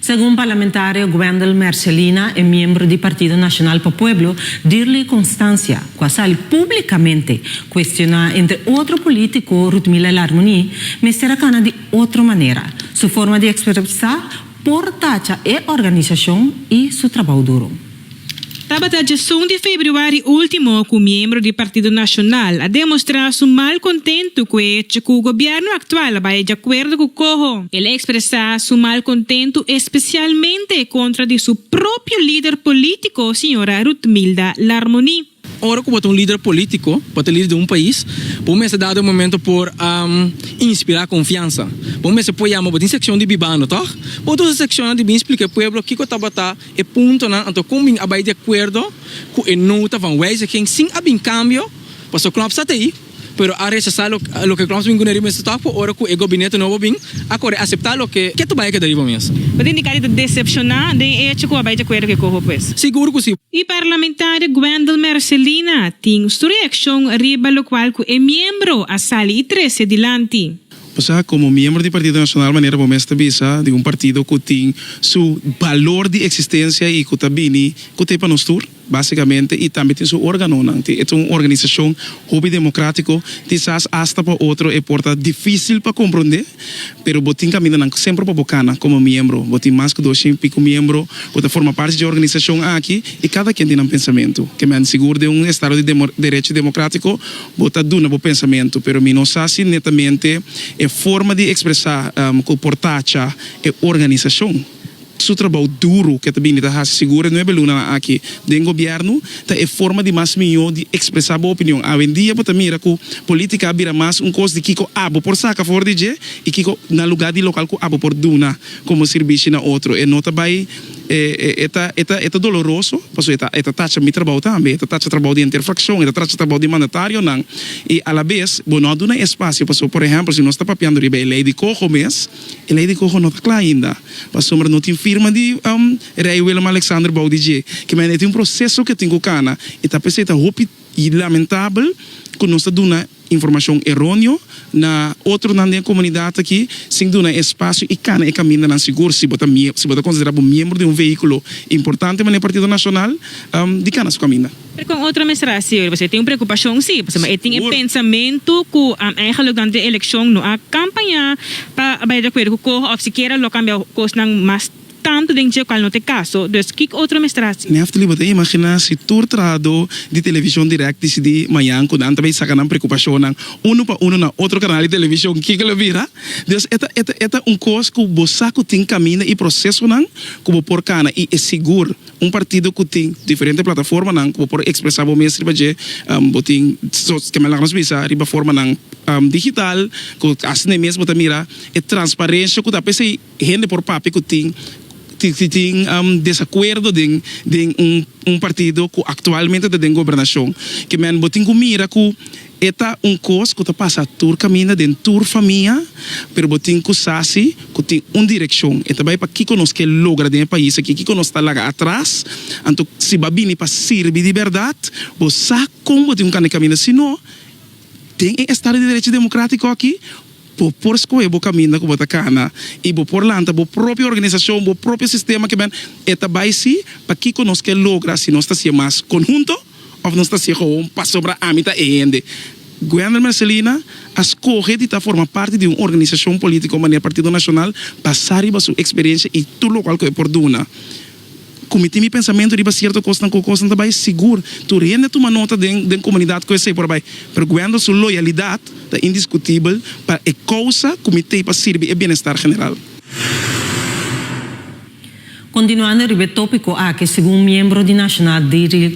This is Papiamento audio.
Segun parlamentario Gwendel Mercelina e miembro di Partido Nacional pa Pueblo, Dirley Constancia, cu a sali publicamente cuestiona entre otro politico Rutmila Larmunie, mester a cana di otro manera su forma di expresa por tacha e organisacion y su trabao duro. Tabata djesun di februari ultimo cu miembro di Partido Nacional a demostra su mal contento cu e hecho cu gobierno actual a bay djacuerdo cu coho. El a expresa su mal contento especialmente contra di su propio lider politico, señora Rutmilda Larmonie. Ora ku bo ta un lider polítiko, bo ta lider di un pais, bo mester dado e momento por inspirá konfiansa. Bo mester por yama, bo tin sekshon di Bibando, tò? Bo ta usa e sekshonnan di bin splika e pueblo kiko tabata e puntonan, anto kon bin a bai di akuerdo ku e nota van wijziging sin a bin kambio, pasobra knorpsat ei. pero a rechasá loke Kloss bin kune riba mes stòk por ora ku e gobinete nobo bin a kore aseptá loke ke ta bai a keda riba mes. Bo ta indiká di ta desepshoná den e echo ku bo a bai dje akuerdo ku e koho pues? Sigur ku si. E parlamentaria Gwendal Mercelina tin su reakshon riba lokual ku e miembro a sali i trese dilanti. Osea, komo miembro di Partido Nasional manera bo mes ta bisa, di un partido ku tin su balor di eksistensia i ku ta bini kute pa nos tur? Básikamente i tambe tin su órganonan. Tin e ta un organisashon hopi demokratiko. Kisas asta pa otro e por ta difísil pa komprondé, pero bo tin kamindanan semper pa bo kana komo miembro. Bo tin mas ku dos shin piko miembro ku ta forma parti dje organisashon aki i kada ken tin nan pensamentu. Ke men sigur den un estado di derecho demokratiko bo ta duna bo pensamentu, pero mi no sa si netamente e forma di ekspresá ku por tacha e organisashon. su trabou duru ku e ta bini ta hasi sigur e nuebe lunanan aki den gobièrnu ta e forma di mas mihó di ekspresá bo opinion. Awendia bo ta mira ku polítika a bira mas un kos di kiko abo por saka a favor di dje i kiko na lugá di lokal ku abo por duna komo sirbishi na otro. E no ta bai e ta e ta e ta doloroso paso e ta e ta tacha mi trabou tambe, e ta tacha trabou di henter frakshon, e ta tacha trabou di mandatarionan i alabes bo no a duna e espasio paso por ehèmpel si nos ta papiando riba e lei di koho mes, E lei di Gogo no ta kla ainda, pasobra no tin firma di Rei Willem-Alexander bou di dje. Kimendia e tin un proseso ku e tin ku kana, i ta p'esei ta hopi lamentabel ku nos ta duna informashon eronio na otronan den e komunidat aki sin duna e espasio i kana e kamindanan sigur. Si bo ta si bo ta konsiderá bo miembro di un vehíkulo importante manera Partido Nacional, di kana su kaminda. Pero con otro administracion riba eso e tin un preocupacion si, pasobra e tin e pensamento cu eigenlijk durante e eleccion no a campaña pa bay de acuerdo cu coho of sikiera lo cambia cosnan mas tanto den dje cual no ta e caso, dus kico otro administracion. Neftali bo ta imagina si tur trahado di television direct dicidi mayan cu nan ta bay saca nan preocupacionnan uno pa uno na otro canal di television kico lo bira? Dus e ta e ta e ta un cos cu bo sa cu tin caminda y procesonan cu bo por cana y e sigur Un partido cu tin diferente plataformanan cu bo por expresa bo mes riba dje. Bo tin kende laga nos bisa riba formanan digital cu haci ne mes bo ta mira e transparencia cu ta apa esey hende por papia cu tin tin tin desacuerdo den den un partido cu actualmente ta den gobernacion kimen bo tin cu mira cu E ta un kos ku ta pasa tur kaminda den tur famia, pero bo tin ku sa si ku tin un direkshon, e ta bai pa kiko nos ke logra den e pais aki, kiko nos ta laga atras. Anto si bo a bini pa sirbi di bèrdat, bo sa kon bo tin ku kane kaminda, si no, den e estado di derecho demokratiko aki, bo por skohe bo kaminda ku bo ta kana i bo por lanta bo propio organisashon, bo propio sistema, kiben, e ta bai si pa kiko nos ke logra si nos ta siña mas konhunto. Of nos ta sego un pasobra ami ta e hende. Guender Mercelina a skohe di ta forma parti di un organisashon polítiko manera Partido Nashonal basá riba su eksperiensia i tur lokual ku e por duna. Ku mi tin mi pensamentu riba sierto kosnan ku kosnan ta bai, sigur tur hende a tuma nota den den komunidat ku esei por a bai, pero Guender su loyalidat ta indiskutibel pa e kousa ku mi tei pa sirbi e bienestar general. Kontinuando riba e tópiko aki, segun un miembro di Nashonal di.